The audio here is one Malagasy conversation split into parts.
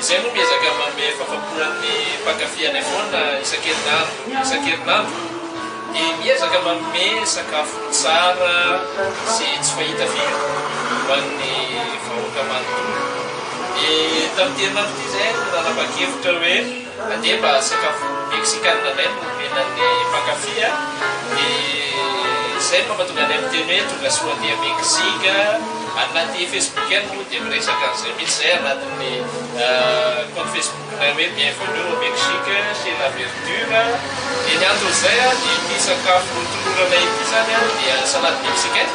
Izay no miezaka manome fafampona ny mpankafy anay foana isan-kerinandro isan-kerinandro dia miezaka manome sakafo tsara sy tsy fahita firy ho an'ny vahoaka manontolo. Dia tamin'ity herinandro ity izay no nanapa-kevitra hoe. Andeha mba sakafo Meksikana indray no omenan'ny mpankafy a! Dia izay no mampatonga anay miteny hoe tonga soa aty à Mexique a! Any anaty Facebook any moa dia miresaka an'izay mihitsy izay anatin'ny compte Facebook-nay hoe Bienvenue au Mexique chez la Verdure a! Dia ny anton'izay a, dia ity sakafo toloranay ity izany a, dia salade mexicaine.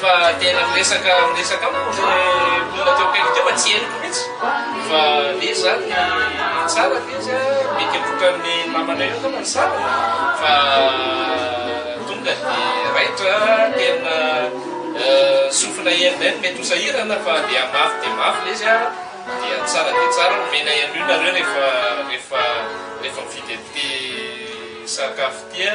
Fa tena miresaka miresaka amiko le olona teo akaiky teo fa tsy henoko mihitsy fa le zany ny tsara le izy a mety hotran'ny namana eo angamba ny sariny fa tonga de raitra tena sofina enina eny mety hosahirana fa dia mafy dia mafy le izy a dia tsara dia tsara omena an'io nareo rehefa rehefa rehefa mividy an'ity sakafo ity a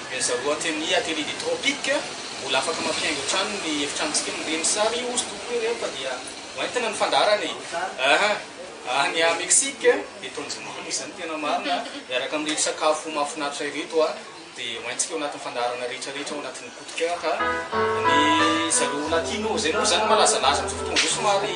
Mihazaroa Anthemia Atelide Tropique, mbola afaka mampihaingo hatrany ny efitranontsika ny reny sary hozy tompoko ireo fa dia ho entina ny fandaharana e! Aha! Any à Mexique dia tanjomamy izany tena marina miaraka amin'ireto sakafo mahafinaritra ireto a! dia ho entsika ao anatin'ny fandaharana rehetra rehetra ao anatin'ny Coup de Coeur a! Ny zareo Latino izay moa izany malazalaza amin'izao fotoana izao somary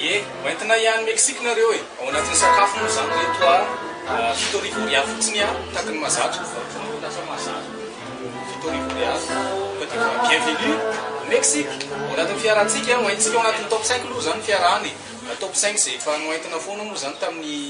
Ie, ho entina hiany Mexique nareo e! Ao anatin'ny sakafo moa zany ry reto a, fito arivo Orialy fotsiny a, takin'ny mahazatra, lasa mahazatra, fito arivo Orialy, ka dia mba bienvenue au Mexique, ao anatin'ny fiarahantsika, hoentintsika ao anatin'ny top cinq aloha zany ny fiarahana e, top cinq izay efa noentina foana moa zany tamin'ny.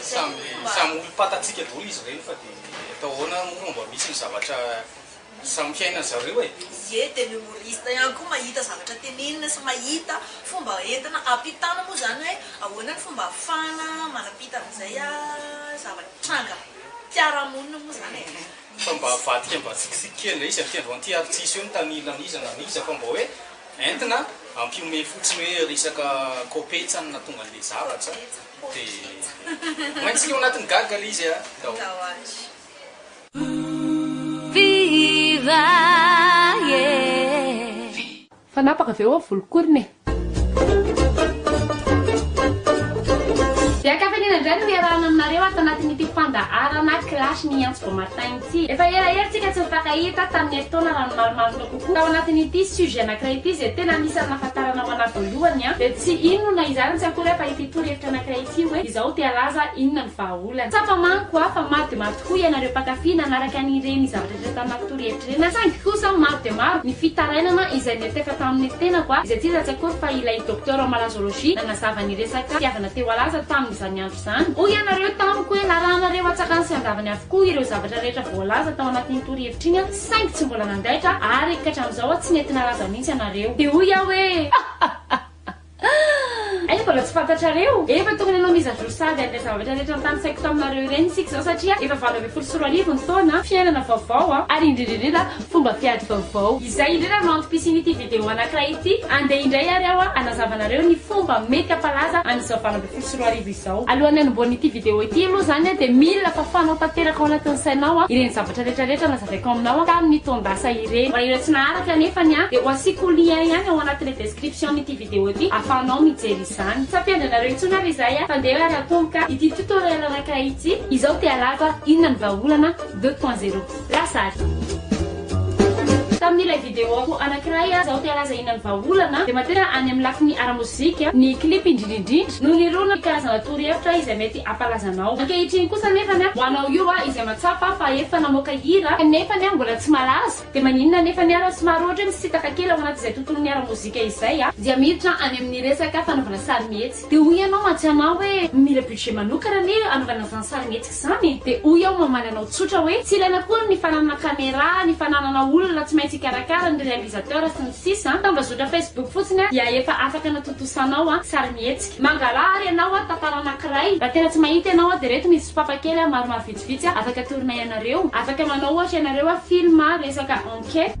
Samy samy olom-pantatsika daholo izy ireny fa dia atao ahoana moa no mba misy ny zavatra samy fiainan'ny zareo e! Ie dia ny humoriste ihany koa mahita zavatra tenenina sy mahita fomba entina hampitana moa izany hoe ahoana ny fomba ahafahana manampita an'izay zavatra tranga mpiara-monina moa izany e! Fa mba avadika mba tsikitsiky kely ilay izy, aty androan'ity ary tsisy eo ny tany hilan'iza na an'iza fa mba hoe. Entina ampihomehy fotsiny hoe resaka kopetsany na tonga andeha zavatra dia maintsy leo anatin'ny gaga le izy a! Fanapaka ve oa volokorona e? Dia an-kafaliana indray no hiarahana aminareo ato anatin'ity fandaharana Clash ny Antso Beau Matin ity. Efa ela ery tsika tsy nifankahita, tamin'ny herintaona raha ny marimarina. Tao anatin'ity sujet anankiray ity izay tena anisan'ny nahafantarana ho anah voalohany dia tsy inona izany tsy akory aho fa ity torohevitra anankiray ity hoe izaho te halaza inona ny vahaolana. Tsapa manko aho fa maro dia maro tokoa ianareo mpankafy nanaraka an'ireny zavatra rehetra tanaty torohevitra ireny aho saingy kosa maro dia maro ny fitarainana izay niantefa tamin'ny tenako aho izay tsy iza tsy akory fa ilay docteur ao Malazologie nanazava ny resaka fitiavana te ho halaza tamin'izany andro izany. Hoy ianareo tamiko hoe narahanareo antsakany sy andavany avokoa ireo zavatra rehetra voalaza tao anatin'iny torohevitra iny aho saingy tsy mbola nandaitra ary katramizao tsy nety nalaza mihitsy ianareo de hoy aho hoe Hay mbola tsy fantatrareo? Efa tokony hanao mise à jour sahady an'ilay zavatra rehetra notanisaiko taminareo ireny isika izao satria efa valo ambin'ny folo sy roa arivo ny taona, fiainana vaovao an! Ary indrindra indrindra fomba fiady vaovao. Izay indrindra no antom-pisian'ity video anankiray ity, andeha indray ary aho hanazava anareo ny fomba mety hampalaza an'izao valo ambin'ny folo sy roa arivo izao. folo sy roa arivo izao. Alohan'ny hanombohan'ny ity video ity aloha izany dia mila fafanao tanteraka ao anatin'ny sainao an ireny zavatra rehetra rehetra nazavaiko aminao tamin'ny taon-dasa ireny. Raha ireo tsy naharaka anefa ny ahy dia ho asiako lien ihany ao anatin'ny description-n'ity video ity afahanao mijery izany. Tsy hampiandry anareo intsony ary izay an! Fandeha ary atomboka ity tutoriel anankiray ity. Izao te-halava inona ny vahaolana deux point zero. Lasary. Tamin'ilay videoko anankiray aho te halaza inona ny vahaolana dia materana any amin'ny lafiny ara-mozika ny clip indrindra indrindra no nirona ny karazana torohevitra izay mety hampalaza anao. Ankehitriny kosa anefany ho anao io aho izay mahatsapa fa efa namoaka hira nefany mbola tsy malaza dia maninona anefany ary somary ohatra hoe misitaka kely ao anaty izay tontolon'ny ara-mozika izay dia miditra any amin'ny resaka fanaovana sarimihetsika. Dia hoy ianao mantsy anah hoe mila budget manokana anie hanaovana izany sarimihetsika izany e! Dia hoy aho mamaly anao tsotra hoe tsy ilaina akory ny fananana camera, ny fananana olona tsy maintsy hikarakara, ny réalisateur sy ny sisa an! Tambazotra facebook fotsiny an dia efa afaka anatontosanao an sarimihetsika. Mangala ary ianao an tantara anankiray. Raha tena tsy mahita ianao an dia ireto misy sopapa kely an maromaro vitsivitsy an afaka atoronay anareo. Afaka manao ohatra ianareo an film an resaka enquête.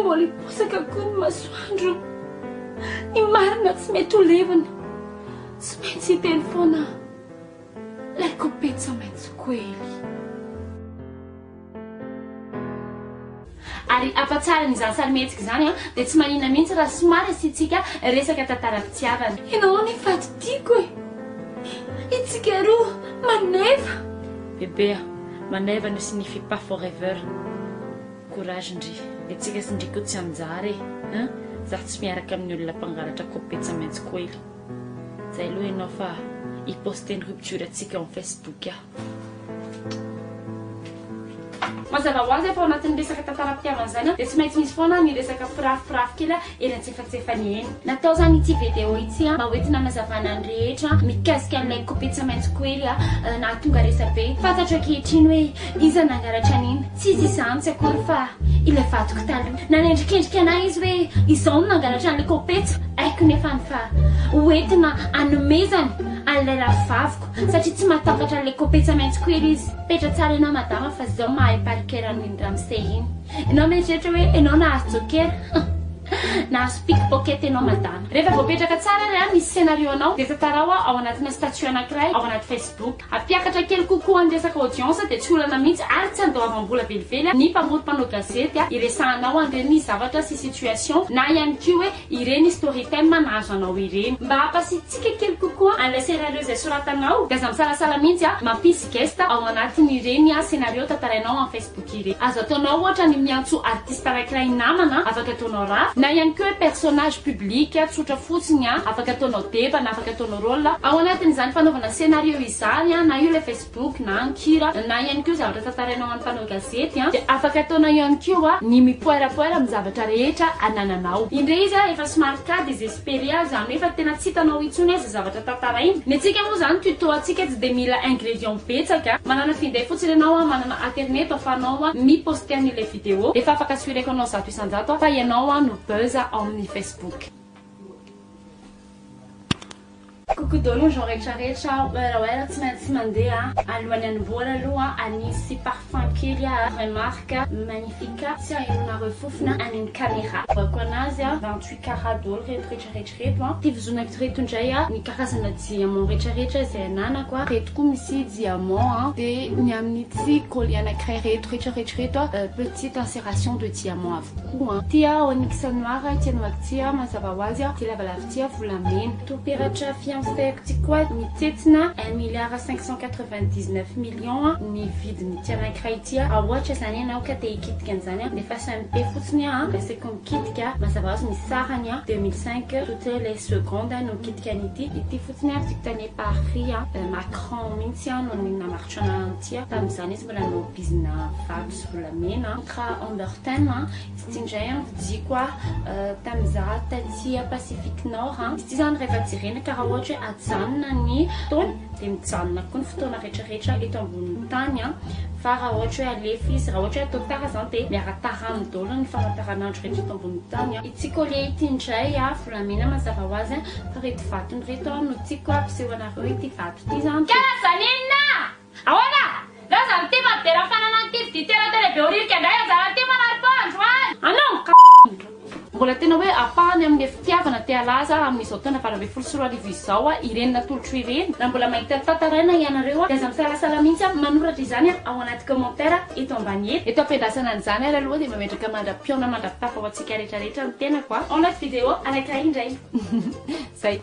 Mbola hiposaka koa ny masoandro. Ny marina tsy mety ho levona. Tsy maintsy hiteny foana ilay kopetsa maitso koely. Ary afa-tsary an'izany sarimihetsika izany dia tsy manina mihitsy raha somary asiantsika resaka tantaram-pitiavana. Ianao ny fady tiako e. Itsika roa maneva. Bebe a! Maneva ne signifie pas forever courage ndry Etsika sy ndry ko tsy anjara e hein Zah tsy miaraka amin'ny olona mpangalatra copie tsy maintsy koely Zay aloha ianao fa hi poster ny rupture antsika ao amin'ny facebook aho. Mazava ho azy fa ao anatin'ny resaka tantaram-pitiavana izany dia tsy maintsy misy foana ny resaka pirafipirafy kely eny antsefatsefany eny. Natao izany ity video ity mba hoentina hanazavana ny rehetra mikasika an'ilay kopetsa maitso koely nahatonga resa-be. Fantatro ankehitriny hoe iza nangalatra an'iny. Tsy izy izany tsy akory fa ilay vadiko taloha. Nanendrikendrika anay izy hoe izaho no nangalatra an'ilay kopetsa. Haiko nefa ny fa hoentina hanomezany an'ilay rahavaviko satria tsy mahatafatra an'ilay kopetsa maitso koely izy. Petra tsara ianao madama fa izao mahay parker an'iny ramose iny. Enao mieritreritra hoe enao nahazo jokera nahazo pick pocket enao madama. Rehefa voapetraka tsara ary ny scenario anao dia tantarao ao anatina statut anakiray ao anaty facebook. Ampiakatra kely kokoa ny resaka audience dia tsy olana mihitsy ary tsy andoavambola velively ny mpamory mpanao gazety hiresahanao an'ireny zavatra sy situation na ihany koa hoe ireny storytime nahazo anao ireny. Mba hampasiatsika kely kokoa an'ilay scenario izay soratanao dia aza misalasala mihitsy mampisy guest ao anatin'ireny scenario tantarainao en facebook. Bokire. Azo ataonao ohatra ny miantso artiste araikiray namana, afaka ataonao raf, na ihany koa hoe personnage public tsotra fotsiny an, afaka ataonao deba na afaka ataonao rôle, ao anatin'izany fanaovana scénario izany an, na io ilay facebook na ny kira, na ihany koa zavatra tantarainao ho an'ny mpanao gazety an, dia afaka ataonao ihany koa ny mipoerapoera amin'ny zavatra rehetra anananao. Indray izy an, efa somary kady izy. Beria izany hoe fa tena tsy hitanao intsony aza zavatra tantarainy. Ny antsika moa izany tuto antsika tsy dia mila ingrédients betsaka. Manana finday fotsiny ianao an, manana aterneto afahanao an mi poster an'ilay video. Efa afaka suireko anao zato isan-jato aho fa ianao an no buzz ao amin'ny facebook. Coucou Dolo, genre retraretra aho oer oer tsy maintsy mandeha alohan'ny hanombohana aloha anisy parfum kely ah remarque magnifica tsy ahenonareo fofona any amin'ny camera voako anazy ah vingt huit carat Dolo reto retraretra reto ah ty vizonakito reto indray ah ny karazana diamant retraretra izay ananako ah reto koa misy diamant ah de ny amin'ity collier anakiray reto retraretra reto ah petite inseration de diamant avokoa ah ty ah onyx noir ah ity anaovako ity ah mazava ho azy ah ty lavalava Dia volamena. Toa peratra fiancéko ty koa mitsetsina un milliard cinq cent quatre vingt dix neuf million ny vidin'ity anankiray ity a. Raha ohatra zany ianao ka te hikitika an'izany a, dia fasa ny paix fotsiny a, dia asaiko mikitika, mazava hoazy ny sarany a, deux mille cinq, toutes les secondes no mikitika an'ity. Ity fotsiny a, dictane par Ry Macron mihitsy a no namaritra an'ity a, tamin'izany izy mbola nanao bizina vato sy volamena, contrat Humberton a. Tsy indray an vijiko ah tam za taty a pacific nord an. Izy ity zany rehefa jerena karaha ohatra hoe ajanona ny fotoana dia mijanona koa ny fotoana rehetra rehetra eto ambonin'ny tany an. Fa raha ohatra hoe alefa izy, raha ohatra hoe atao tara zany dia miara-tara aminy daholo ny famantaranandro rehetra eto ambonin'ny tany an. Ity collier ity indray a volamena mazava ho azy an, fa reto vatony reto an no tiako ampiseho anareo ity vato ity zany dia. Karazan'inona? Ahoana? Laza ny tema dia raha fanana ny titre du tera tele behoririka indray anjara ny tema nary poa androany! Anao ka indrindra! Mbola tena hoe ampahany amin'ilay fitiavana te halaza amin'izao taona valo ambin'ny folo sy roa arivo izao aho ireny natolotro ireny. Raha mbola mahita tantaraina ianareo dia aza misalasala mihitsy aho manoratra izany ao anaty commentaire eto ambany eto. Eto ampiandrasana an'izany ary aloha dia mba metraka mandra-pihaona mandra-pitafa ho antsika rehetra rehetra ny tenako a. Ao anaty vidéo anankiray indray. Zay.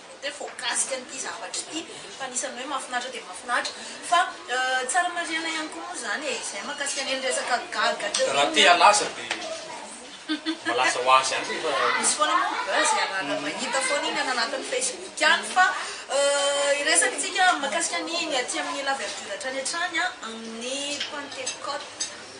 Mety hoe voakasika an'ity zavatra ity fa anisan'ny hoe mahafinaritra dia mahafinaritra fa tsara marihana ihany koa moa izany e, izay mahakasika an'iny resaka gaga teo iny a. Raha te halaza dia malaza ho azy ihany rehefa. Misy foana moa ny buzz e, raha mahita foana iny any anatin'ny facebook any fa hiresaka isika mahakasika ny aty amin'ny la verdure hatrany hatrany amin'ny pantekote.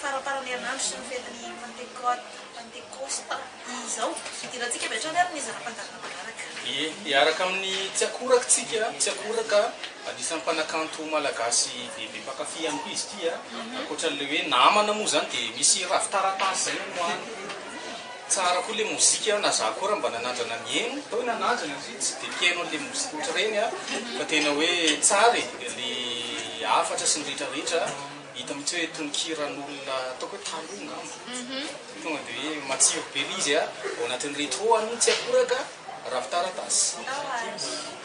faramparan'ny herinandro sy ny fetin'ny Pantekôta, Pantekosta, izao. Idirantsika avy hatrany ary ny zana-panjaka manaraka. Ie, hiaraka amin'ny tsy akoraka tsika, tsy akoraka, anisan'ny mpanakanto malagasy be be mpankafy ihany koa izy ity a, ankoatran'ilay hoe namana moa izany dia misy ravin-taratasy izay amoahany. Tsara koa le mozika a, na za koa ra mba nanandrana mihaino. Tao i nanandrana satria tsy de mpihaino anle mozika otrareny a, fa tena hoe tsara e, le hafatra sy ny ritra ritra hita mitsy hoe tononkiran'olona ataoko hoe taloha ngamba, tonga de hoe matsiro be le izy a, ao anatin'ny retro an'iny tsy akoraka ravin-taratasy.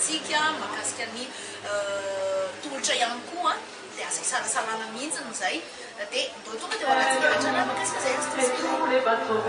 tsika mahakasika ny tolotra ihany koa dia azo isalasalana mihintsiny izay dia ndao tonga dia ho alatsika rehetra lahy mahakasika izay azo tosiana.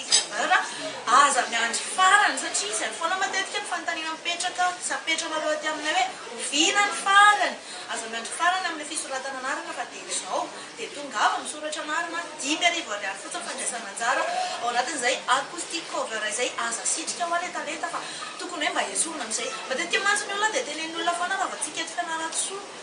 Tsara aza miandry farany satria izay foana matetika ny fanontaniana mipetraka sy apetranareo aty aminay hoe oviana ny farany? Aza miandry farany amin'ny fisoratana anarana fa dia izao dia tongava misoratra anarana, dimy arivo ariary fotsiny fandraisana anjara ao anatin'izay acoustic cover izay, aza asitrika hoa letalenta fa tokony hoe mba esorina amin'izay, matetika mantsy ny olona dia tenenin'ny olona foana raha vao tsy hiketoka Analatoa.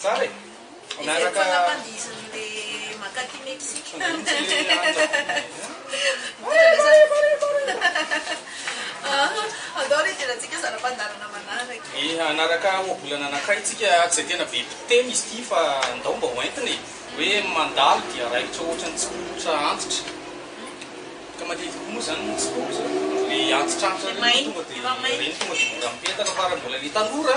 Tsara e! Miaraka. Efa lava izy nandeha makak'i Mexique Andao re hijerantsika zana-pandaharana manaraka. Dia hanaraka ohabolana anankiray tsika tsy dia tena be mpiteny izy ity fa ndao mba ho entina e! Hoe mandalo dia raikitra ohatran'ny tsikombotra antitra. Ka matetika koa moa zany ny tsikombotra dia antitra antitra ireny tonga dia ireny tonga dia mora mipetaka fa raha mbola le tanora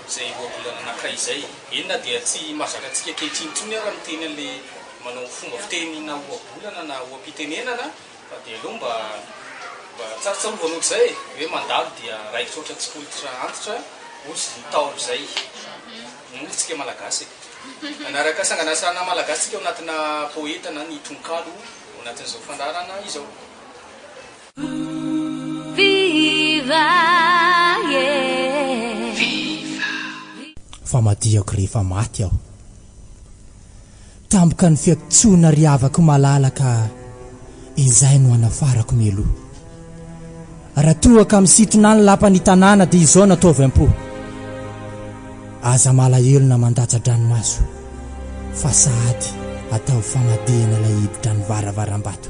Izay ohabolana anankiray izay. Eny na dia tsy mahazatra antsika ankehitriny intsony ara ny teny an'ilay manao fomba fiteny na ohabolana na oha-pitenenana fa dia aleo mba mba tsarotsarovana ohatr'izay e! hoe mandalo dia raikitra ohatra tsy fototra antitra ohatry ny Ntaolo izay moa isika Malagasy e! Hanaraka sanganasana Malagasy tsika ao anatina poeta na ny tononkalo ao anatin'izao fandaharana izao. Fa madihako rehefa maty aho Tampoka ny fiantsoana ry havako malala Ka izay no hanafarako mialoha Raha toa ka misintona ny lapan'ny tanàna Dia izao no ataovy am-po Aza malahelo na mandatsa-dranomaso Fa sahady ataovy famadihana Ilay hiditra ny varavaram-bato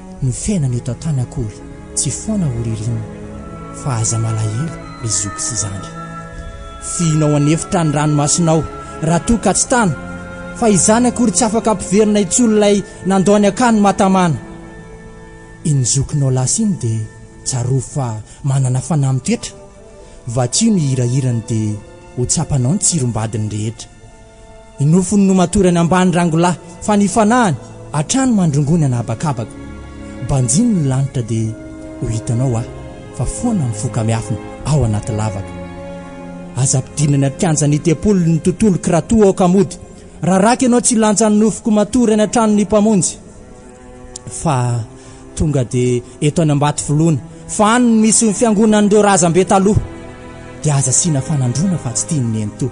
Ny fiainana eto an-tany akory tsy foana ho ririnina fa aza malahelo ry zoky sy zandry. Fihina ao an'efitra ny ranomasonao raha toa ka tsy tana fa izany akory tsy afaka ampiverina intsony ilay nandao ny akany matamana. Iny zokinao lasa iny dia tsarovy fa manana fanahy mitoetra, vakio ny hirahirany dia ho tsapanao ny tsirombadiny rehetra. Ny nofony no matory any ambany rangolahy fa ny fanahiny hatrany mandrongony ana habakabaka. Banjino ny lanitra dia ho hitanao aho fa foana mifoka miafina ao anaty lavaka. Aza ampidino any an-kianja ny tempoly ny tontoloko raha toa aoka mody raraka ianao tsy hilanja ny nofoko matory any an-trano ny Mpamonjy fa tonga dia eto any Ambatovoloana fa any no misy ny fiangonan'ireo razambe taloha dia aza asiana fanandroana fa tsy tian'ny nenitoa.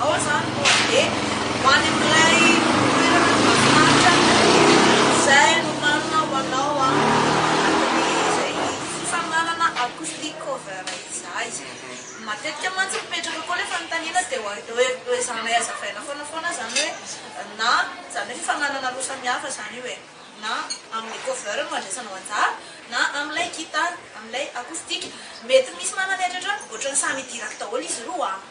Ao izany no handeha ho any amin'ilay toerana mahafinaritra izay nomanina ho anao ao anatin'izay fifaninanana Acoustic Cover izay. Matetika mantsy mipetraka koa ilay fanontaniana dia hoezahanay hazavaina foana foana izany hoe na izany hoe fifaninanana roa samihafa izany io e, na amin'ny cover no handraisanao anjara na amin'ilay gitara, amin'ilay acoustic. Mety misy manana ny eritreritro hoe ohatran'ny samy hidirako daholo izy roa an!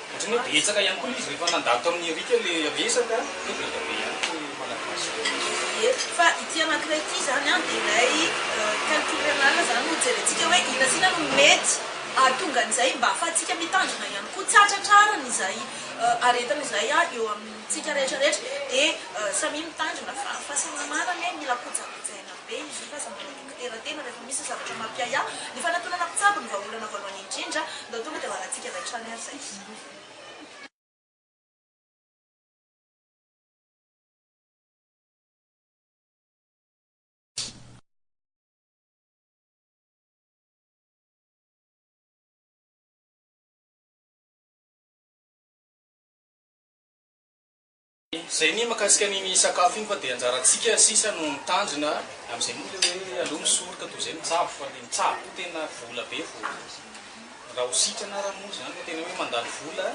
Otrany hoe betsaka ihany koa le izy rehefa nandalo tamin'i Eric le resaka dia be dia be ihany koa ny Malagasy Ye, fa ity anakiray ity zany an dia ilay calcul renal zany no jerentsika hoe inona sy inona no mety ahatonga an'izay mba afahantsika mitandrina ihany koa, tsy hahatratrarany izay aretina izay an eo amintsika rehetra rehetra dia samia mitandrina fa fahasalamana anie mila kojakojaina be izy io fa aza manao. Fitanteraterana rehefa misy zavatra mampiahiahy, ny fanatonana mpitsabo no vahaolana voalohany indrindra, ndao tonga dia ho alantsika avy hatrany ary izay. Zay ny makasika an'iny sakafo iny fa de anjarantsika sisa no mitandrina amzay moa le hoe aleo misoroka toy zay mitsabo fa le mitsabo koa tena vola be vao raha ho sitrana ara moa zany fa tena hoe mandany vola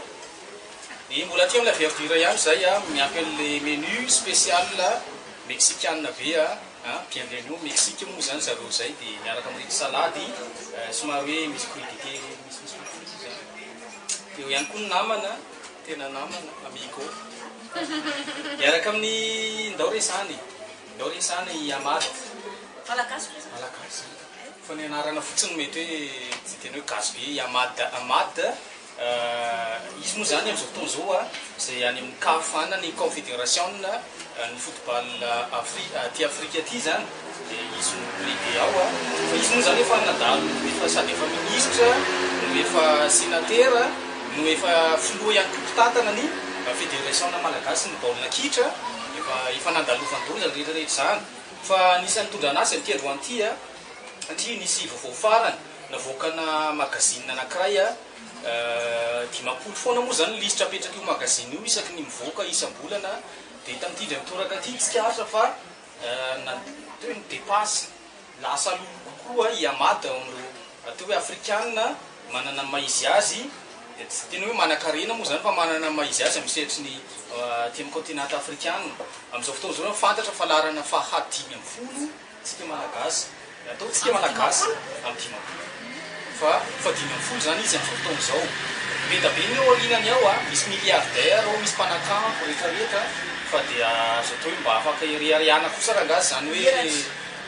dia mbola aty amla verdure ihany zay a miampy anle menu special mexicanina be a an bienvenue au Mexique moa zany zareo zay de miaraka amreny salade somary hoe misy crudite misy misy fotsifotsy zany eo ihany koa ny namana Tena namana, amigo. Miaraka amin'ny ndao re zany, ndao re zany i Amat. Malagasy ve zany? Malagasy. Fa ny anarana fotsiny mety hoe tsy tena hoe gasy be i Amat. Amat, izy moa zany amin'izao fotoana izao a, izay any amin'ny caf ana, ny Confederasiona ny football Afri- aty Afrika aty zany. Dia izy no lehibe ao an! Fa izy moa izany efa nadalo efa sady efa minisitra no efa senatera no efa filoha ihany koa mpitantana ny federation-na malagasy ny baolina kitra efa efa nandalovan daholo izany rehetra rehetra izany fa nisy nitondran azy aty aloha aty an! satria nisy vaovao farany navoakana magazine anakiray an! dimampolo foana moa izany ny lisitra apetrak'io magazine io isaky ny mivoaka isam-bolana dia tamin'ity indray mitoraka ity tsikaritra fa Na toy ny depasy, lasa lolo kokoa i Ahmad ao amin'ireo atao hoe Afrikana manana ny maha izy azy, tsy tena hoe manan-karena moa izany fa manana ny maha izy azy amin'ny sehatry ny aty amin'ny kaontinanta Afrikana. Amin'izao fotoana izao, fantatra fa laharana faha dimy ambin'ny folo isika Malagasy. Ny ataontsika Malagasy amin'ny dimampolo fa fa dimy ambin'ny folo izany izy amin'izao fotoana izao. Mideda be ny ao aorinany ao a! Misy milliardaires ao, misy mpanakambo rehetra rehetra fa dia azo atao hoe mba afaka ireharehana kosa rangaha izany hoe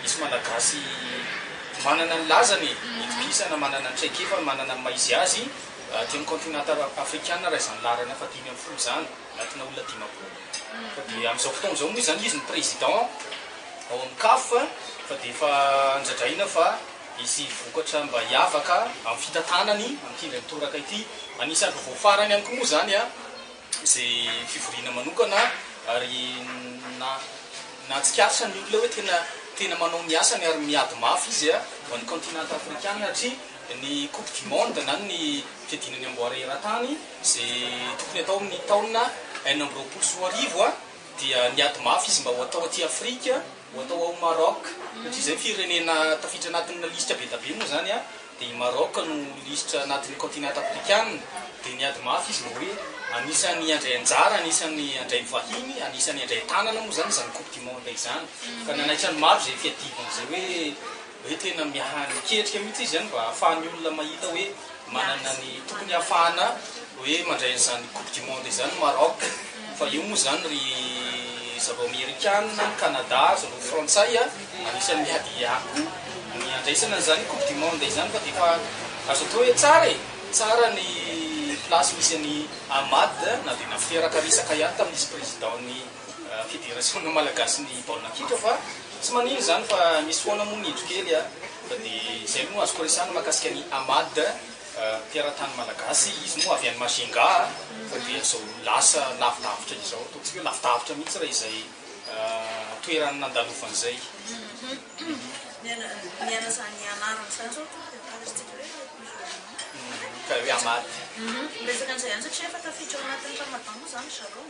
misy Malagasy manana ny lazany e! Itokisana, manana ny traikefany, manana ny maha izy azy aty amin'ny continent afrikana raha izany laharana fa dimy ambin'ny folo izany. Natina olona dimampolo fa dia amin'izao fotoana izao moa izany izy no président ao amin'ny caf fa dia efa andradraina fa hisy vokatra mba hiavaka amin'ny fitantanany hampihindra ny toraka ity anisan'ny vaovao farany ihany koa moa izany izay fivoriana manokana ary na natsikasa ny olona hoe tena tena manao ny asany ary miady mafy izy a ho an'ny continent africain hatria ny coupe du monde na ny fiadiana ny amboara eran-tany Izay tokony hatao amin'ny taona enina amby roapolo sy roa arivo dia niady mafy izy mba ho atao aty Afrika, ho atao ao Maroc, satria izay firenena tafiditra anatin'ilay lisitra be dia be moa izany dia i Maroc no lisitra anatin'ny continent afrikanina, dia niady mafy izy mba hoe anisan'ny handray anjara, anisan'ny handray vahiny, anisan'ny handray tanana moa izany izany coupe du monde izany, ka nanaitra ny maro izay fiadiana izay hoe. hoe tena miha-niketrika mihitsy izy mba hahafahan'ny olona mahita hoe manana ny tokony hahafahana hoe mandray an'izany coupe du monde izany Maroc fa io moa izany ry zareo amerikana, ny Canada, zareo frantsay anisan'ny miady hiahy ny handraisana an'izany coupe du monde izany fa dia efa azo atao hoe tsara e! tsara ny place misy an'i Ahmad na dia naferaka resaka ihany tamin'izy président-n'i Federasiona Malagasy ny baolina kitra fa tsy manino izany fa misy foana moa ny indro kely a! Fa dia izay no azoko resahina mahakasika an'i Amad teratany Malagasy, izy moa avy any Majunga a! Fa dia izao lasa lavidavitra izao, ataontsika hoe lavidavitra mihitsy raha izay toerany nandalovany izay. Miaina izany anarana izany izao tompoko dia fantatrintsika hoe musulman. Ka hoe Amad. Miresaka an'izay ihany satria efa tafiditra ao anatin'ny Ramadan moa izany ry zareo.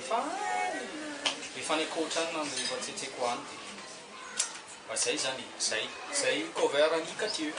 Efa any! Efa any ankoatra any ny rehefa tsetseako any dia mba izay izany e! Izay! Izay cover an'i Kadieux.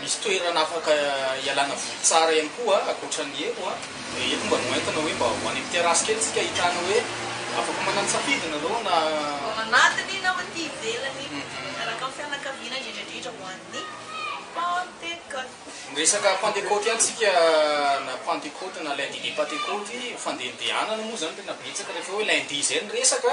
Misy toerana afaka ialana voly tsara ihany koa ankoatra ny eto a, dia eto mba noentina hoe mba ho any amin'ny terasy kely isika ahitana hoe afaka manana safidy ianareo na. Ao anatiny na aty ivelany araka ny fianakaviana indrindra indrindra ho an'ny Pantekoty. Ny resaka Pantekoty ihany isika na Pantekoty na Lundi de Pantekoty, fandehandehanana moa izany tena betsaka rehefa hoe Lundi izay ny resaka.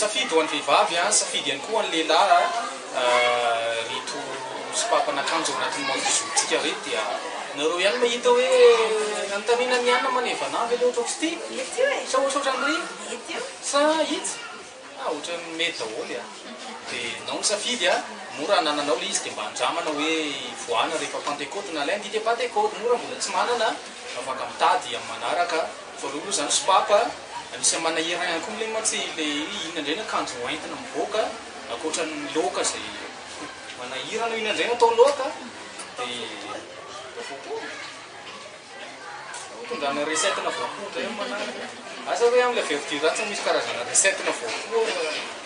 Safidy ho an'ny vehivavy, safidy ihany koa ho an'ny lehilahy ireto sopapanakanjo ao anatin'ny mode jour-ntsika ireto dia nareo ihany mahita hoe anontaniana an'i Anna maneva anah ve ilay ohatrako sy ity? Mety io e! Sa ohatry ohatran'ireny? Mety io! Sa itsy? Ah, ohatran'ny mety daholo an! Dia ianao misafidy an! Mora anananao ilay izy dia mba andramana hoe hivoahana rehefa Pantekoty na Lundi de Pantekoty, moa raha mbola tsy manana an! Afaka mitady amin'ny manaraka Voalohany aloha izany sopapa anisan'ny manahirana ihany koa milay mantsy ilay hoe inona indray ny akanjo hoentina mivoaka ankoatran'ny loaka izay manahirana hoe inona indray no atao loaka dia mba voapoa tondrahana recette-na voapoa indray amin'ny manaraka. Asa hoe amin'ilay verdure tsy misy karazana recette-na voapoa.